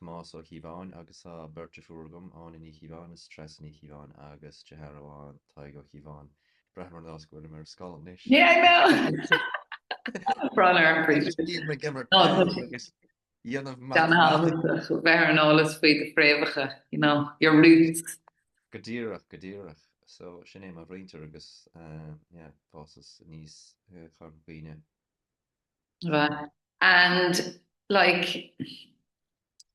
Tomás Ó Cíobháin agus tá beirt deirfiúr agam, Áine Ní Chíobháin is Treasa Ní Chíobháin agus deartháir amháin, Tadhg Ó Cíobháin. Braithim ar nós go bhfuilim ar scoil anois! Ní raibh mé ann! Brón ar an bpríomhoide. Bím ag imirt peil agus ag déanamh matamaitic. Bheith ar an eolas faoi do phréamhacha, you know, your roots. Go díreach, go díreach. So, sin é mo mhuintir agus, yeah, d'fhásas aníos i Chorca Dhuibhne. And like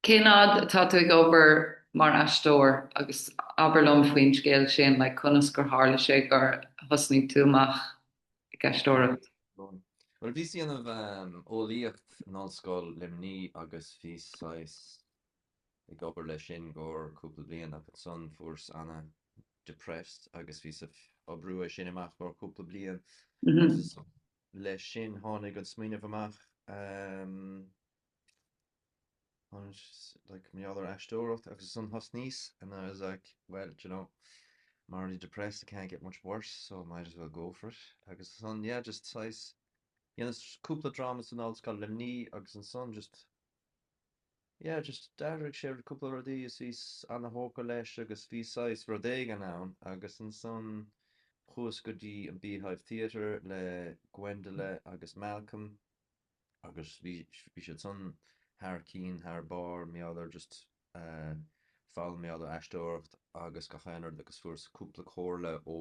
cén fhad atá tú ag obair mar aisteoir agus abair liom faoin scéal sin, like conas gur tharla sé gur thosnaigh tú amach ag aisteoireacht? Bhuel bhíos ag déanamh eolaíocht in Ollscoil Luimnigh agus bhíos saghas ag obair leis sin i gcomhair cúpla bliain ach ansan fuaireas ana-depressed agus bhíos ag oibriú é sin amach i gcomhair cúpla bliain agus leis sin, tháinig an smaoineamh amach like mar gheall ar aisteoireacht agus ansan thosnaíos and I was like well d'you know I'm already depressed it can't get much worse so might as well go for it agus ansan yeah just saghas dheineas cúpla dráma san Ollscoil Luimnigh agus ansan just yeah just d'athraigh sé cúpla rudaí is bhíos ana-thógtha leis agus bhí saghas rud éigin ann agus ansan chuas go dtí an Beehive Theatre le Gwendole agus Malcolm agus bhí sé sin thar cinn thar barr mar gheall ar just eh fáil mar gheall ar aisteoireacht agus gach aon rud agus fuaireas cúpla comhairle ó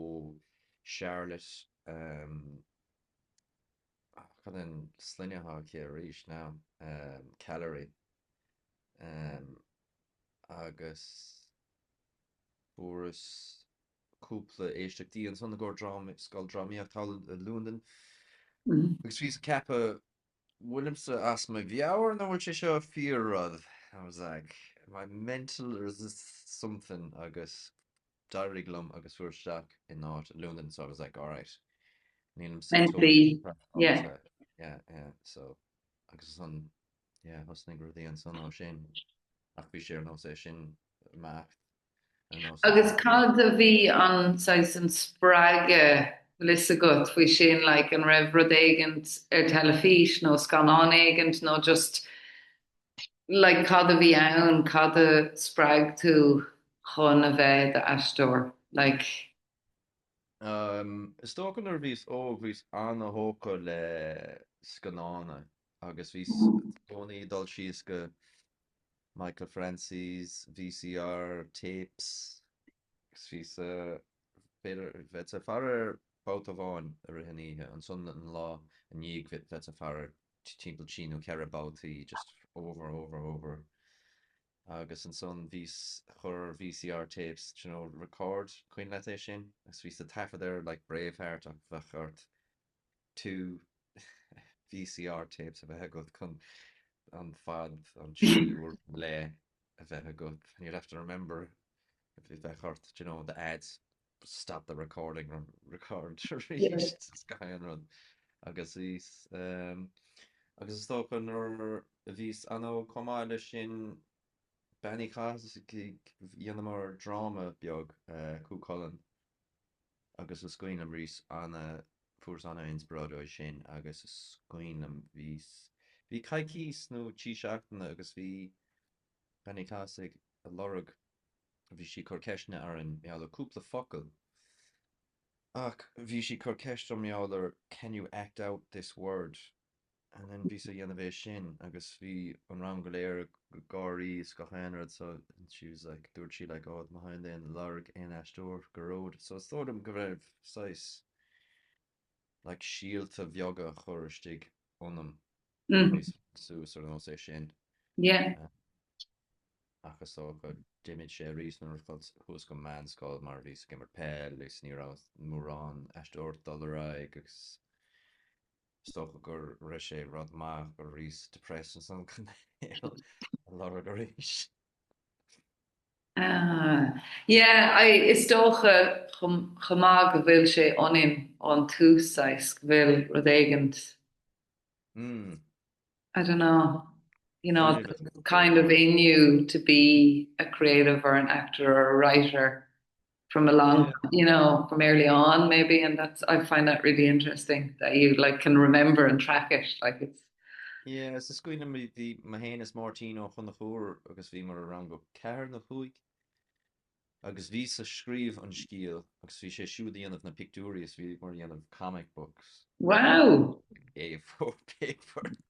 Charlotte ehm Cad é an sloinne atá aici arís ná? Calleary. Agus fuaireas cúpla éisteachtaí ansan i gcomhair scoil drámaíocht thall i Londain, agus bhíos ag ceapadh, bhfuilimse as mo mheabhair nó an bhfuil sé seo fíor rud? I was like, am I mental or is this something? Agus D'éirigh liom agus fuaireas isteach in áit i Londain so I was like alright nílim so tógtha mentally, yeah yeah so agus ansan yeah thosnaigh rudaí ansan ó sin ach bhí sé ar nós é sin imeacht ar nós é Agus cad a bhí an saghas an spreagadh bhfuil fhios agat faoi sin like an raibh rud éigint ar teilifís nó scannán éigint nó just like, cad a bhí ann, cad a spreag tú chun a bheith i d'aisteoir? Like. Um, is dócha nuair a bhíos óg, bhíos ana-thógtha le scannána, agus bhíos i gcónaí ag dul síos go Michael Francis, VCR, tapes, Bhíos-sa bheith ag faire air babhta amháin i rith an oíche, ansan an lá i ndiaidh bheith ag faire air timpeall trí nó ceithre babhtaí just over, over, over. Agus ansan bhíos ag cur VCR tapes, d'you know, record, cuimhin leat é sin? Agus bhíos a' taifead air like Braveheart ach bheadh ort two VCR tapes a bheith agat chun an fad, an show ar fad le a bheith agat and you'd have to remember if it bheith ort, do you know, the ads, stop the recording ar record arís is gach aon rud agus is ehm agus is dócha nuair a bhíos an-óg chomh maith leis sin Bean Uí Chathais dhéanamar dráma beag Cú Chulainn Agus is cuimhin liom arís ana-fuaireas ana-inspioráid uaidh sin agus is cuimhin liom bhíos, bhí coicís nó trí seachtaine agus bhí Bean Uí Chathais ag lorg, bhí sí ag cur ceisteanna orainn mar gheall ar cúpla focal ach bhí sí ag cur ceist orm mar gheall ar can you act out this word? And then bhíos ag déanamh é sin agus bhí an rang go léir ag gáirí is gach aon rud so she was like dúirt sí like oh má thagann aon ag lorg aon aisteoir go deo so is dóigh liom go raibh saghas like síolta bheaga a chur istigh ionam aníos suas ar nós é sin ach is dóigh go d'imigh sé arís nuair a chuas go meánscoil mar bhíos ag imirt peil is ní raibh mórán aisteoir ag dul ar aghaidh agus Is dócha gur raibh sé rud maith go rabhas depressed ansan chun é a lorg arís. Yeah, I, is dócha chomh maith go bhfuil sé ionainn ón tús saghas, go bhfuil rud éigin, I don't know, you know, kind of in you to be a creative or an actor or a writer. from a long, you know, from early on maybe and that's, I find that really interesting that you like can remember and track it, like it's. Yeah, is cuimhin liom, bhí mé féin is Máirtín Ó Conchúir agus bhíomar i rang a ceathair nó cúig agus bhíos-sa ag scríobh an scéal agus bhí sé siúd ag déanamh na pictiúirí is bhíomar ag déanamh comic books. Wow! A4 paper.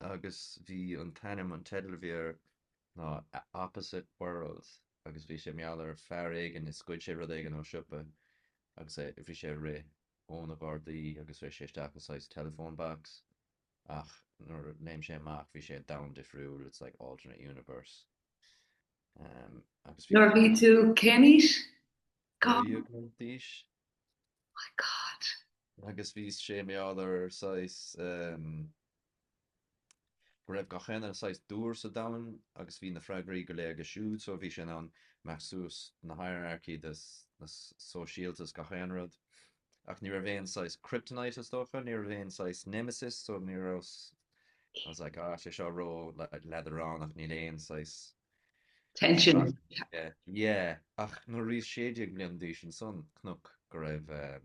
agus bhí an t-ainm, an teideal a bhí air ná Opposite World agus bhí sé mar gheall ar fear éigin is ghoid sé rud éigin ó siopa agus é, bhí sé ag rith ó na gardaí agus rith sé isteach i saghas telephone box ach nuair a léim sé amach bhí sé i domhan difriúil, it's like alternate universe ehm agus bhí Nuair a bhí tú cén aois? God. Bhí agam d'aois My God! Agus bhí sé mar gheall ar saghas ehm, go raibh gach éinne saghas dúr sa domhan agus bhí na freagraí go léir aige siúd so bhí sé in ann imeacht suas na hierarchy de na sóisialta is gach aon rud ach ní raibh aon saghas kryptonite is dócha, ní raibh aon saghas nemesis so ní rabhas I was like ah tá sé seo ró leadránach níl aon saghas tension. Yeah, ach nuair a bhíos 16 bliain d'aois ansan, chonac, go raibh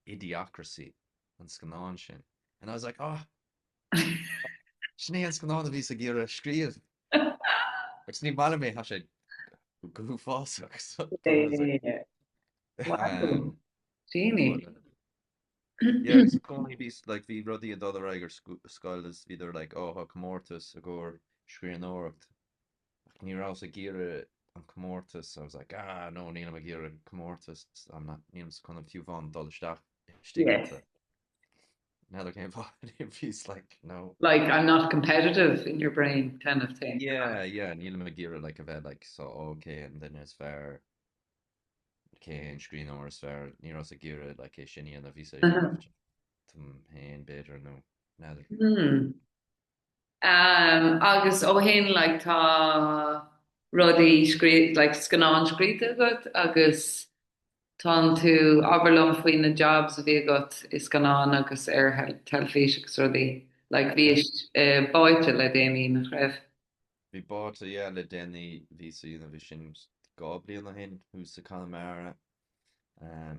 Idiocracy, an scannán sin, and I was like, oh, sin é an scannán a bhíos ag iarraidh scríobh, agus ní maith liom é, thá sé go huafásach, so, I was like, wow, Jeanny. Yeah, bhí i gcónaí, bhí, like, bhí rudaí ag dul ar aghaidh ar scoil is bhíodar like, oh, tá comórtas i gcomhair scríbhneoireacht. Ach ní rabhas ag iarraidh an comórtas, I was like, ah, no, nílim ag iarraidh comórtas, I'm not, nílimse chun fiú amháin dul isteach istigh ata. N'fheadar cén fáth, I was just like, no. Like, I'm not competitive in your brain kind of thing. Yeah, yeah, nílim ag iarraidh like a bheith like, so, oh, cén duine is fearr. cé hé an scríbhneoir is fearr? Ní rabhas ag iarraidh like, é sin a dhéanamh, bhíos ag iarraidh uh-huh. ráiteas dom féin, b'fhéidir, nó n'fheadar. Hmm. Um, agus ó shin like, tá rudaí scríb, like, scannán scríte agat agus tá tú abair liom faoi na jobs a bhí agat i scannán agus ar teilifís agus rudaí. Like, bhí uh, Báite le déanaí nach raibh. Bhí Báite yeah le déanaí, bhíos ag déanamh é sin dhá bliain ó shin, thuas i Conamara,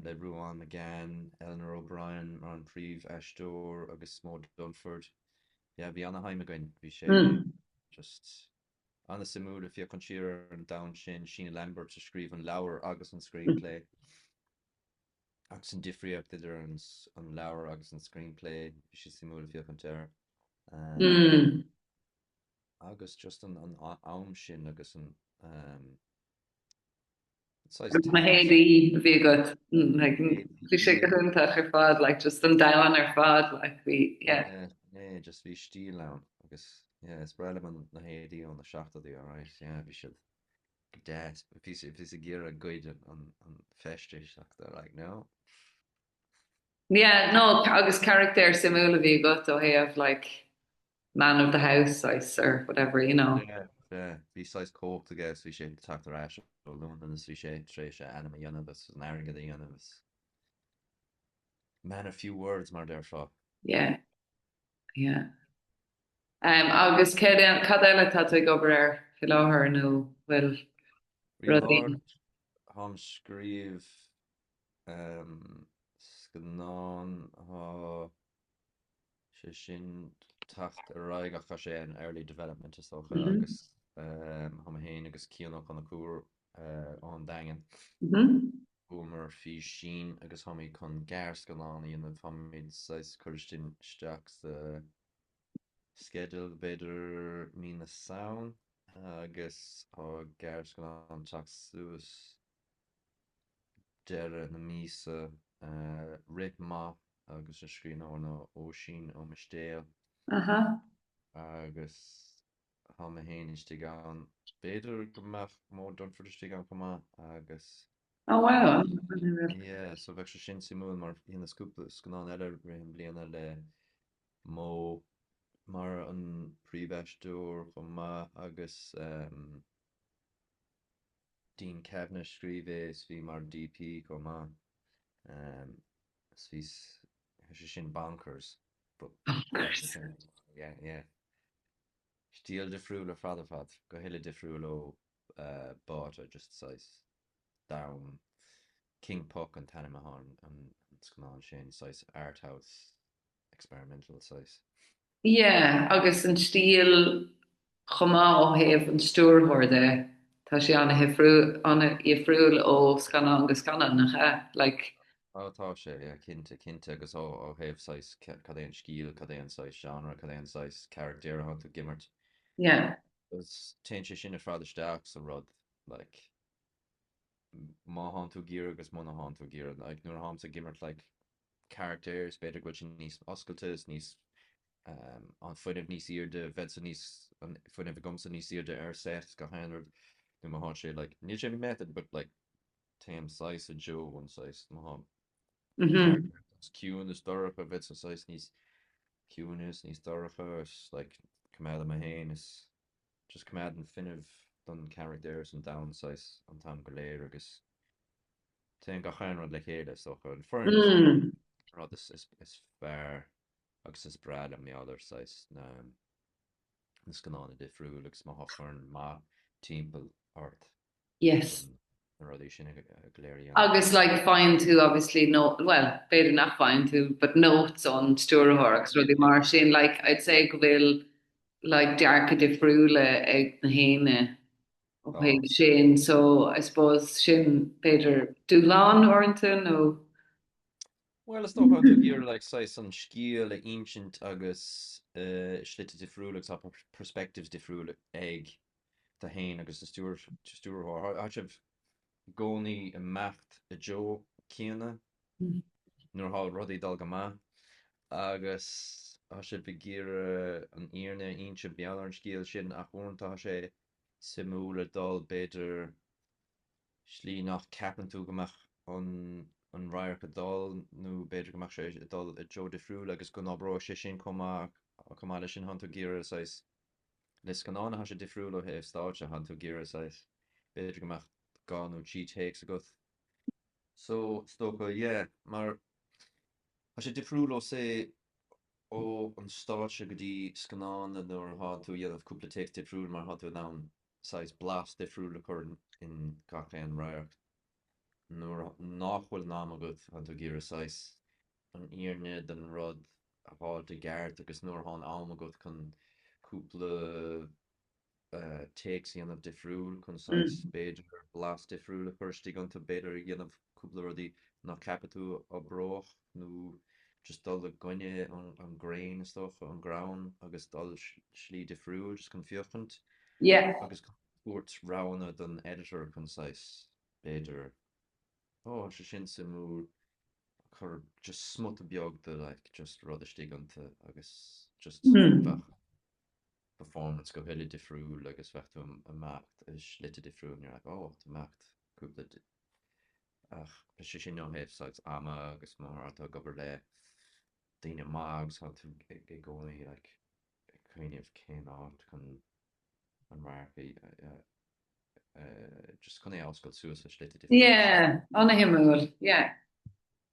le Ruán Magan, Eleanor O'Brien mar an príomhaisteoir agus Moe Dunford. Yeah, bhí an-time againn, bhí sé just an-suimiúil ag féachaint siar ar an domhan sin, Sheena Lambert a scríobh an leabhar agus an screenplay, agus an difríocht idir an leabhar agus an screenplay, bhí sé suimiúil ag féachaint air. agus just an am sin agus an saghas teas. Na héadaí a bhí agat, bhí sé go hiontach ar fad, like just an domhan ar fad, like bhí, yeah. Yeah, just bhí stíl ann, agus yeah, is breá liom na héadaí ó na seachtóidí, alright, yeah, bhí siad go deas, bhíos ag iarraidh goid an feisteas, ach they were like, no. Yeah, no, agus carachtar suimiúil a bhí agat ó thaobh like man of the house saghas or whatever you know. Yeah yeah bhí saghas cumhacht aige agus bhí sé ag teacht ar ais ó Londain agus bhí sé tar éis a ainm a dhéanamh agus a airgead a dhéanamh agus man of few words mar a déarfá. Yeah yeah agus cad eile atá tú ag obair air faoi láthair nó bhfuil rudaí? Tháim ag scríobh um scannán atá sé sin ag teacht ar aghaidh ach tá sé in early development is dócha agus thá mé féin agus Cian Ó Conchubhair ón Daingean chuamar faoi sin agus tháimid chun gearrscannán a dhéanamh, tháimid saghas ag cur isteach sa sceideal b'fhéidir mí na Samhna agus tá gearrscannán ag teacht suas. deireadh na míosa, Rith Maith agus an scríbhneoir ná Oisín Ó Mistéal agus thá mé féin istigh ann. B'fhéidir go mbeadh Moe Dunford istigh ann chomh maith agus yeah so beidh sé sin suimiúil mar dheineas cúpla scannán eile i rith an bliana le Moe mar an príomhaisteoir chomh maith agus ehm. Dean Kavanagh scríobh é is bhí sé mar DP chomh maith is bhí sé sin bonkers but yeah yeah stíl difriúil ar fad ar fad go huile difriúil ó Botha just saghas domhain King Puck an t-ainm atá ar an scannán sin saghas art house experimental saghas. Yeah, agus an stíl chomh maith ó thaobh an stiúrthóir de, tá sé an-dhifriúil ó scannán go scannán, nach ea, Like. Oh, tá sé, yeah, cinnte, cinnte, agus ó thaobh saghas cad é an stíl, cad é an saghas genre, cad é an saghas carachtair a thánn tú ag imirt. Yeah. Agus téann sé sin ar fad isteach sa rud, like, má thánn tú ag iarraidh agus muna thánn tú ag iarraidh, like, nuair a tháimse ag imirt, like, carachtair, is b'fhéidir go bhfuil siad níos oscailte, is níos an fuinneamh níos airde, bheadh sa níos an fuinneamh agamsa níos airde ar set go hannamh nó má thá sé like níl sé an method but like téim saghas you know saghas má thá character ciúin is dorcha bheadsa saghas níos ciúine is níos dorcha is like coimeád dom féin is just coimeád an fuinneamh don charachtar is an domhan saghas an t-am go léir agus téann gach aon rud le chéile, is dócha. An foireann is fearr, an rud is fearr agus is breá liom bheith ar saghas na na scannáin difriúil agus má thá foireann maith timpeall ort, yes, na rudaí sin go léir. Agus like faigheann tú obviously no, bhuel, b'fhéidir nach bhfaigheann tú but notes ón stiúrthóir agus rudaí mar sin like I'd say go bhfuil like dearcadh difriúla ag na héinne. Ó thaobh sin, so, I suppose, sin b'fhéidir dúshlán uaireanta nó. Bhuel, is dócha, tú ag iarraidh like saghas an scéal a insint agus slite difriúla agus tá perspectives difriúla ag tú féin agus an stiúrthóir. Tá sibh i gcónaí ag imeacht i dtreo céanna nuair atá rudaí ag dul go maith agus tá sibh ag iarraidh an fhírinne a insint beagnach ar an scéal sin ach uaireanta tá sé suimiúil dul, b'fhéidir, slí nach ceapann tú go mbeadh an radharc ag dul, nó b'fhéidir go mbeadh sé ag dul i dtreo difriúil agus go n-oibreoidh sé sin chomh maith. Chomh maith leis sin, thánn tú ag iarraidh, saghas, le scannán atá sé difriúil ó thaobh stáitse, thánn tú ag iarraidh, saghas, b'fhéidir go mbeadh dhá nó trí takes agat. So, is dócha, yeah, mar Tá sé difriúil ó say, ó an stáitse go dtí scannán nuair a thá tú a dhéanamh cúpla take difriúil mar thá tú in ann saghas blas difriúil a chur in gach aon radharc. Nuair nách bhfuil an am agat thá tú ag iarraidh saghas an fhírinne den rud a fháilt i gceart agus nuair thá an am agat chun cúpla takes a dhéanamh difriúil, chun saghas, b'fhéidir, blas difriúil a chur istigh iontu, b'fhéidir, ag déanamh cúpla rudaí nach ceapfadh tú a oibreodh nó just dul i gcoinne an grain is dócha, an greann agus dul slí difriúil just chun féachaint yeah agus chun tabhairt roghanna don editor, chun saghas, b'fhéidir, oh tá sé sin suimiúil, cur just smuta beag de like just rud istigh iontu agus just bheadh. performance go huile difriúil agus bheadh tú ag imeacht i slite difriúil nuair atá tú ag imeacht cúpla de ach tá sé sin ó thaobh saghas ama agus má thá tú ag obair le daoine maith agus tá tú i gcónaí like ag cuimhneamh cén áit chun an radharc a just chun é a oscailt suas i slite difriúil. Yeah, an-shuimiúil, yeah.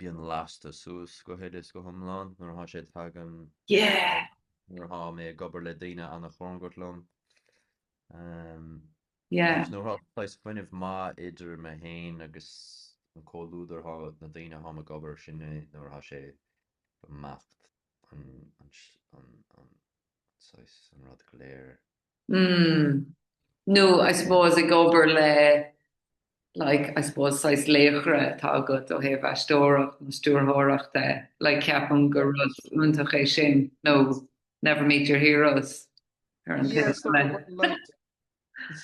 Bíonn lasta suas go huile is go hiomlán nuair atá sé tagann Yeah! nuair atá mé ag obair le daoine an-chóngarach liom. Ehm, Yeah. agus nuair atá saghas fuinneamh maith idir me féin agus an comhluadar atá na daoine atá ag obair, sin é nuair atá sé ag imeacht an, an, an, an, an, saghas, an rud go léir. mm, nó I suppose ag obair le like, I suppose saghas laochra atá agat ó thaobh aisteoireacht nó stiúrthóireachta, like ceapaim gur rud iontach é sin, nó never meet your heroes ar an Yeah, taobh so eile. like,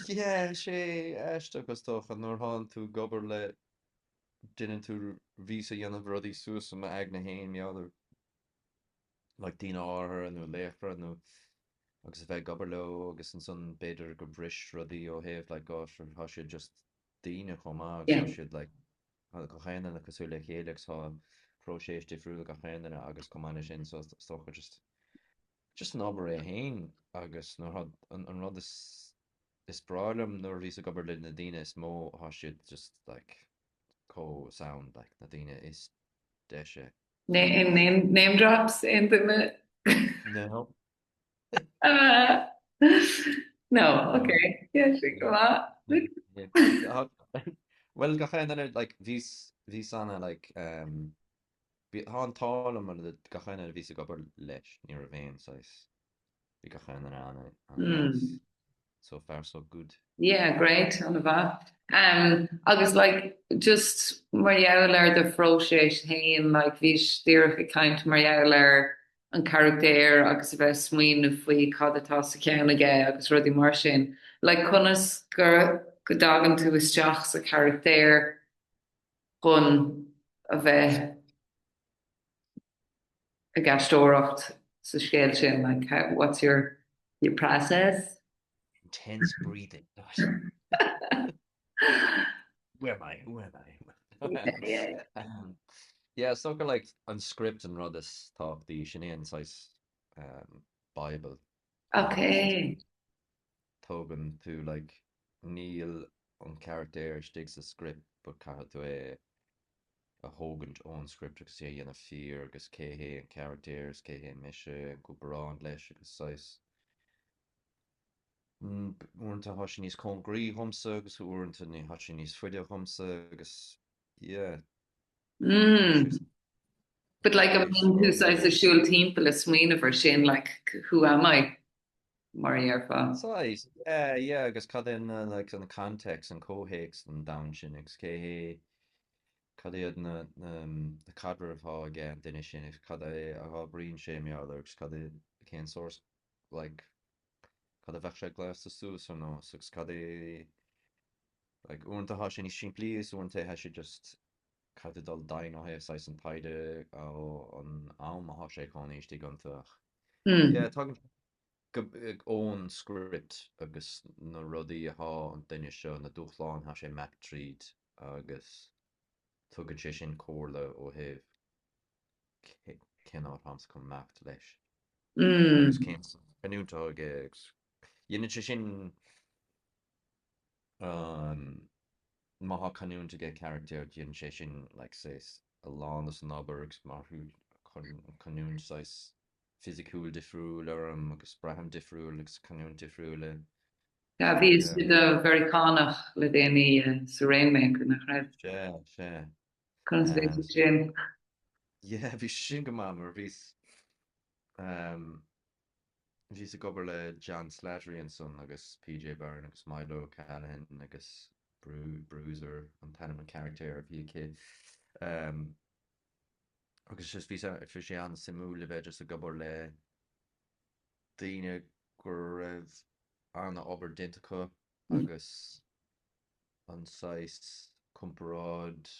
yeah, sé aisteach is dócha, nuair thánn tú ag obair le duine, tú bhís ag déanamh rudaí suas i m'aigne féin, maidir. like daoine áirithe nó laochra nó agus a bheith ag obair leo agus ansan b'fhéidir go bris rudaí ó thaobh like oh sure thá siad just daoine chomh maith agus thá yeah siad like thá gach aon duine cosúil le chéile agus thá próiseas difriúil ag gach aon duine agus chomh maith le sin so is dócha just just an obair é fhéin agus nuair thá an an rud is is breá liom nuair a bhíos ag obair le na daoine is mó thá siad just like chomh sound like na daoine is deise Name drops aon duine? No. No, ok. Yeah, sure, go maith. Bhuel, gach aon duine, like, bhí, bhíos ana, like, ehm, bhí, tá an t-ádh liom mar gach aon duine a bhíos ag obair leis, ní raibh aon saghas. Bhí gach aon duine ana nice. So far so good. Yeah great ana mhaith. Agus like just mar gheall ar do phróiseas féin like bhíos díreach ag caint mar gheall ar an charachtar agus a bheith ag smaoineamh faoi cad atá sa cheann aige agus rudaí mar sin. Like conas go dtagann tú isteach sa charachtar chun a bheith ag aisteoireacht sa scéal sin, like how, what's your your process? Intense breathing, gosh. Who am I, who am I? Yeah, yeah. Yeah, so gur like an script an rud is tábhachtaí, sin é an saghas bible. Ok. tógann tú like níl an carachtar istigh sa script but caithfidh tú é a thógaint ón script agus é a dhéanamh fíor agus cé hé an carachtar agus cé hé mise i gcomparáid leis agus saghas uaireanta thá sé níos cóngaraí dhomsa agus uaireanta ní thá sé níos faide uaimse agus yeah mm. but like an mbíonn tú saghas ag siúl timpeall ag smaoineamh air sin like who am I mar a dhéarfá. Saghas, yeah, yeah, agus cad é na, like, an context, an comhthéacs don domhan sin, agus cé hé, cad iad na, na, na caidrimh atá aigen duine sin, agus cad é a oibríonn sé mar gheall air, agus cad é, cén sórt, like, cad a bheadh sé gléasta suas ann nó, agus cad é, like, uaireanta tá sé níos simplí, is uaireanta tá sé just caithfidh tú dul dtí an ó thaobh saghas an taighde, an am atá sé ag cónaí istigh iontu ach. Yeah, tagann ón script agus na rudaí a thá an duine seo, na dúshláin thá sé ag imeacht tríd agus tugann sé sin comhairle ó thaobh cén áit thámsa chun imeacht leis. Agus cén canúint thá aige agus dhéanann sé sin má thá canúint ag an gcarachtar dhéanann sé sin like saghas a lán den obair agus mar tá canúint saghas fisiciúil difriúil orm agus braithim difriúil agus canúint difriúil. Sea, bhís i do Mheiriceánach le déanaí sa Rainmaker, nach raibh? Sea, sea. Conas a bhí sé sin? Yeah, bhí sé sin go maith mar bhíos Bhíos ag obair le John Slattery ansan agus PJ Byrne agus Milo Callaghan agus Bruiser an t-ainm an charachtair a bhí aige ehm agus just bhí sé an-suimiúil a bheith just ag obair le daoine go raibh an-obair déanta acu agus an saghas comparáid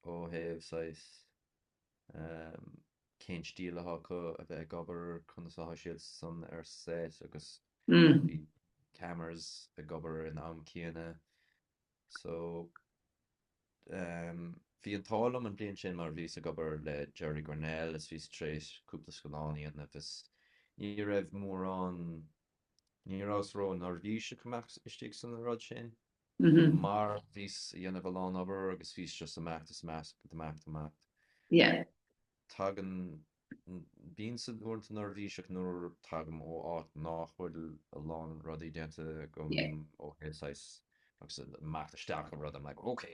ó thaobh saghas cén stíl atá acu a bheith ag obair, conas atá siadsan ar set agus bhí cameras ag obair an am céanna so bhí an t-ádh liom an bliain sin mar bhíos ag obair le Gerry Grennell is bhíos tréis cúpla scannán a dhéanamh is ní raibh mórán Ní rabhas ró neirbhíseach ag imeacht istigh san rud sin, mar bhíos a dhéanamh a lán obair agus bhíos just ag imeacht is ag imeacht is ag imeacht is ag imeacht. Tagann, bímse uaireanta neirbhíseach nuair tagaim ó áit nách bhfuil a lán rudaí déanta agam ó thaobh saghas agus ag imeacht isteach i rud I'm like ok,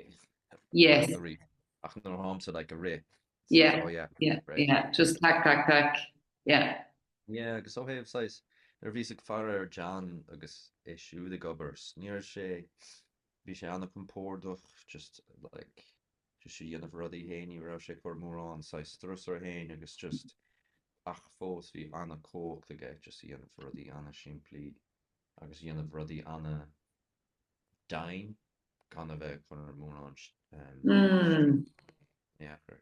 ach nuair atáimse like ag rith Yeah. Oh yeah. Yeah. Right. Yeah. Just tac tac tac. Yeah. Yeah, agus ó thaobh saghas, nuair a bhíos ag faire ar John agus é siúd ag obair, ní raibh sé, bhí sé an-compordach, just like, just a dhéanamh a rudaí féin, ní raibh sé ag cur mórán saghas strus air féin agus just, ach fós bhí an-chumhacht aige just a dhéanamh rudaí an-simplí agus a dhéanamh rudaí an-, deimhin gan a bheith ag cur mórán sciath air.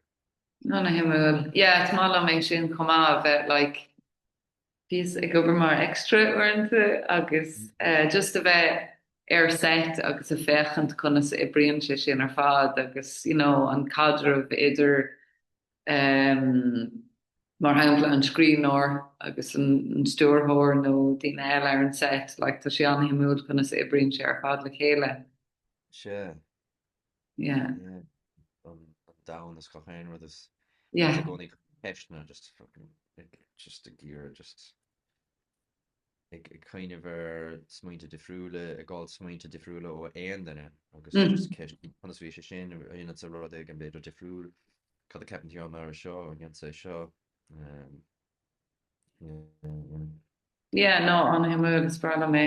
Ana-shuimiúil. Yeah, is maith liom é sin chomh maith, a bheith like, bhíos ag obair mar extra uaireanta agus just a bheith ar set agus ag féachaint conas a oibríonn sé sin ar fad agus you know an caidreamh idir mar shampla an scríbhneoir agus an stiúrthóir nó daoine eile ar an seit, like tá sé an-shuimiúil conas a oibríonn sé ar fad le chéile. Sea. Yeah. Yeah. An domhan is gach aon rud is Yeah. gcónaí ceisteanna just fucking just ag iarraidh just ag cuimhneamh ar smaointe difriúla, ag fháil smaointe difriúla ó aon duine agus ceist conas a bhí sé sin, a dhéanann tú rud éigin b'fhéidir difriúil, cad a ceapann tú, á mar seo a dhéanann tú é seo. Yeah, no, an-shuimiúil, is breá liom é.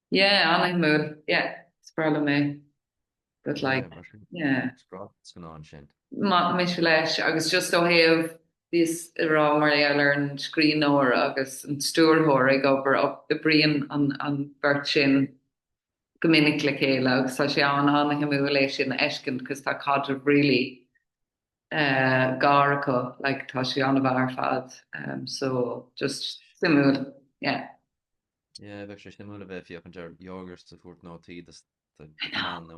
Yeah, an-shuimiúil. Yeah, is breá liom é. But like, Yeah, mar sin. yeah. Is breá an scannán sin. Mise leis agus just ó thaobh bhíos ag rá mar gheall ar an scríbhneoir agus an stiúrthóir ag obair op- oibríonn an an bheirt sin go minic le chéile agus tá sé an an-shuimiúil é sin a fheiscint 'cause tá caidreamh really eh gar acu le tá sé ana-bhreá ar fad. Em so just suimiúil. Yeah. Yeah, bheadh sé suimiúil a bheith ag féachaint ar Yorgos ag tabhairt nótaí,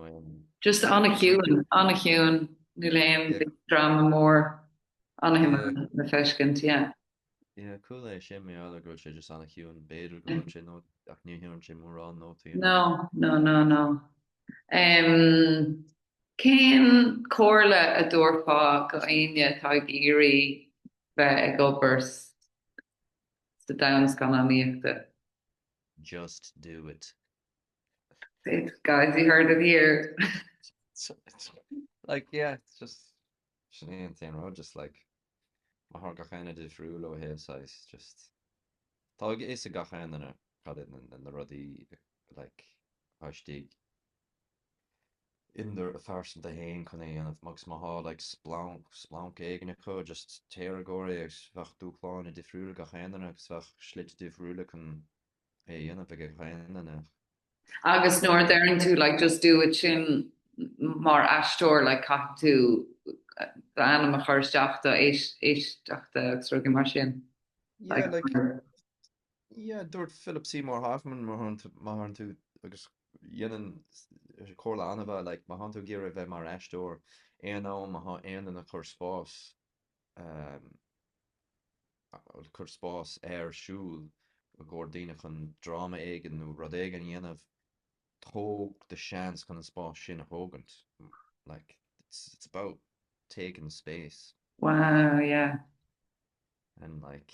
mean, no. Just an-chiúin, an-chiúin, níl aon big dráma mór, an-shuimiúil le feiscint, yeah. Yeah, cool é sin, mé ag ceapadh go bhfuil sé just an-chiúin, b'fhéidir go bhfuil sé nó ach ní thugann sé mórán nótaí. No, no, no, no. Cén comhairle a dtabharfá go éinne atá ag iarraidh bheith ag obair sa. sa domhan scannánaíochta. Just do it. Guys you heard it here. Like yeah, it's just sin é an t-aon rud just like mar tá gach éinne difriúil ó thaobh saghas just Tá a fhios ag gach aon duine cad iad na rudaí like thá istigh ina bpearsa fhéin chun é a dhéanamh, agus má thá, like, splanc, splanc éigin acu, just téir i gcomhair é, agus beidh dúshláin difriúla ag gach aon duine, agus beidh slite difriúla chun é a dhéanamh ag gach aon duine. Agus nuair a deireann tú, like, just do it, sin, mar aisteoir, like, caithfidh tú d'ainm a chur isteach, do éisteachta, agus rudaí mar sin. Yeah, like, Yeah, dúirt Philip Seymour Hoffman, má thánn tú, má thánn tú, agus sin í an chomhairle an-mhaith, like, má thánn tú ag iarraidh a bheith mar aisteoir, aon am a thá aon duine ag cur spás, ehm, ag cur spás ar siúl i gcomhair daoine chun dráma éigin nó rud éigin a dhéanamh, tóg do seans chun an spás sin a thógaint. Like, it's, it's about taking space. Wow, yeah. And like,